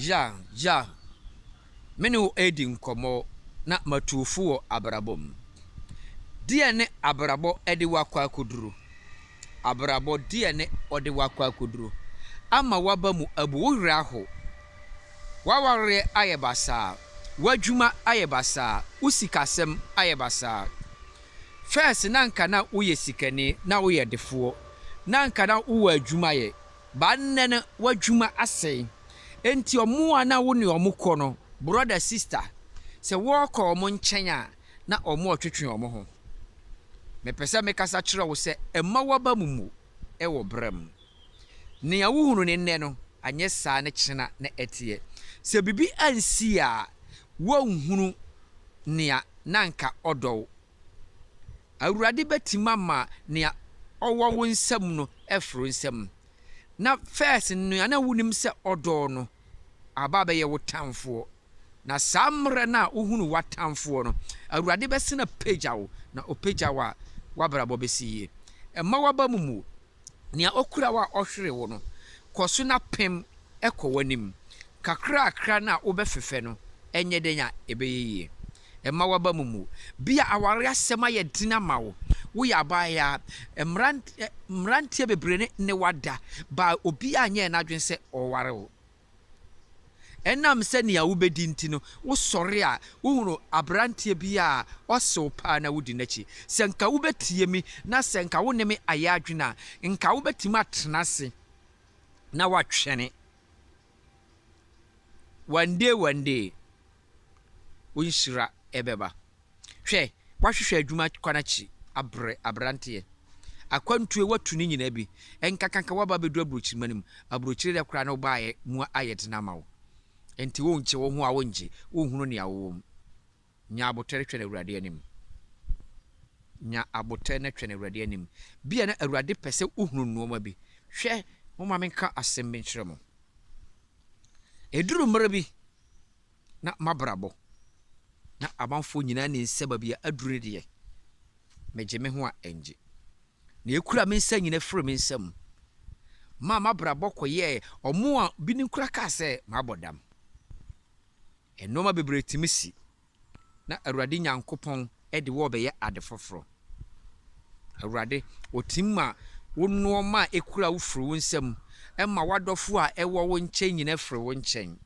Jean, Jean, me ne wo redi nkɔmmɔ na matu wo fo wɔ abrabɔ mu. Deɛn ne abrabɔ de wo akɔ akɔduru? Abrabɔ deɛn ne ɔde wo akɔ akɔduru? Ama w'aba mu abu, wo werɛ aho, w'awareɛ ayɛ basaa, w'adwuma ayɛ basaa, wo sikasɛm ayɛ basaa. First na anka na woyɛ sikani, na woyɛ defoɔ, na anka na wowɔ adwuma yɛ, Ba nnɛ no w'adwuma asɛe. Enti ɔmo a na wo ne ɔmo kɔ no, brɔda, sista, sɛ wɔɔkɔ ɔmo nkyɛn a, na ɔmo ɔtwetwe ɔmo ho. Mepɛ sɛ mekasa kyerɛ wo sɛ mma w'aba mu mmu wɔ bra mu. Nea wo hunu no nnɛ no, anyɛ saa ne kyena na ɛteɛ. Sɛ biribi ansi a, woanhunu nea na anka ɔdɔ wo Awurade bɛtim ama nea ɔwɔ wo nsam no afiri wo nsam. Na first no nea na wonim sɛ ɔdɔ wo no aba abɛyɛ wo tamfoɔ. Na saa mmerɛ no a wohunu w'atamfoɔ no, Awurade bɛsane apagya wo, na ɔpagya wo a, w'abrabɔ bɛsi yie. Mma w'aba mu mmu wo. Nea okura wo a ɔhwere wo no, kɔ so na pem kɔ w'anim. Kakrakra no a wobɛfefɛ no, ɛnyɛ dɛn a ɛbɛyɛ yie. Mma w'abam mmu. Bi a aware asɛm ayɛ den ama wo. Woyɛ abaayaa. Mmerante, mmeranteɛ bebree ne wo ada, but obiara nyɛɛ n'adwene sɛ ɔware wo. Ɛnam sɛ nea wubedi nti no, wosɔre a wuhu aberanteɛ bi a ɔsew paa na wudi n'akyi. Sɛ anka wubetie me na sɛ anka wo ne me ayɛ adwene a, anka wubetumi atena ase na woatwɛn. One day, one day. wo nhyira bɛba. Hwɛ, woahwehwɛ adwuma kwan akyi abrɛ, aberanteɛ. Akwantuo a woatu no nyinaa bi nkakanka woaba abɛduru aburokyirima no mu. Aburokyire deɛ koraa na wobaeɛ mu ayɛ den ama wo. Enti wonkye wo ho a wongye, wonhunu nea wowɔ mu. Nya abotare twɛn Awurade anim. Nya abotare na twɛn Awurade anim. Bia na Awurade pɛ sɛ wohunu nnoɔma bi. Hwɛ, momma menka asɛm bi nkyerɛ mo. Ɛduru mmerɛ bi na m'abrabɔ na amanfoɔ nyinaa nim sɛ baabi a aduru no deɛ, megye me ho a ɛngye. Nea ɛkura me nsa nyina firi me nsa mu maa m'abrabɔ kɔyɛɛ ɔmo a binom koraa kaa sɛ mabɔ dam. Nnoɔma bebree tumi si. na Awurade Nyankopɔn de wo rebɛyɛ ade foforɔ. Awurade, ɔtim ma wo nnoɔma a ɛkura wo firi wo nsam, ɛma w'adɔfoɔ a ɛwɔ wo nkyɛn nyina firi wo nkyɛn,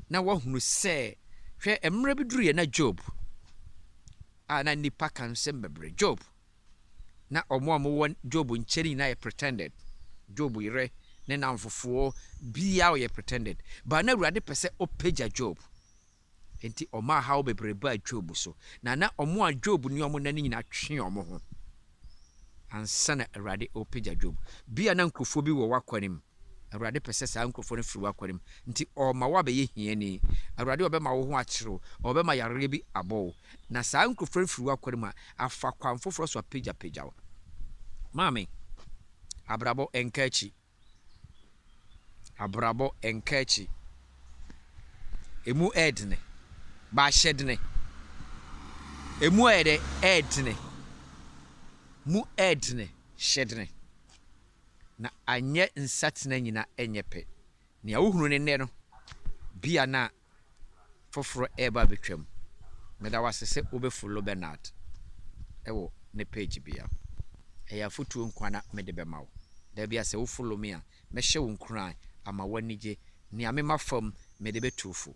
na woahunu sɛ, hwɛ, mmerɛ bi duruiɛ na Job, a na nnipa ka nsɛm bebree, Job, na wɔn a wɔwɔ Job nkyɛn no nyinaa yɛ pretended, Job yerɛ, ne nnamfofoɔ, biara ɔyɛ pretended, but na Awurade pɛ sɛ ɔpagya Job. Enti ɔmaa haw bebree baa Job so, na na wɔn a Job ne wɔn nna no nyinaa twe wɔn ho ansa na Awurade repagya Job. Bia na nkurɔfoɔ bi wɔ w'akwanem. Awurade pɛ sɛ saa nkurɔfoɔ no firi w'akwanem. Nti ɔrema woabɛyɛ hiani. Awurade ɔbɛma wo ho akyere wo, ɔbɛma yareɛ bi abɔ wo. Na saa nkurɔfoɔ no firi w'akwanem a, afa kwan foforɔ so apagyapagya wo. Maame, abrabɔ nka akyi. Abrabɔ nka akyi. Emu yɛ dene. Ba ahyɛ dene. Emu ayɛ dɛ ɛyɛ dene. Mu yɛ dene. Hyɛ dene. Na anyɛ nsatena nyina nyɛ pɛ. Nea wohunu no nnɛ no, bia na foforɔ reba abɛtwam. Meda wo ase sɛ wobɛ follow Bernard wɔ ne page bia. Ɛyɛ afotuo nkoaa na mede bɛma wo. Dabia sɛ wo follow me a, mɛhyɛ wo nkuran ama wo anigye. Nea mema fam mede bɛtu wo fo.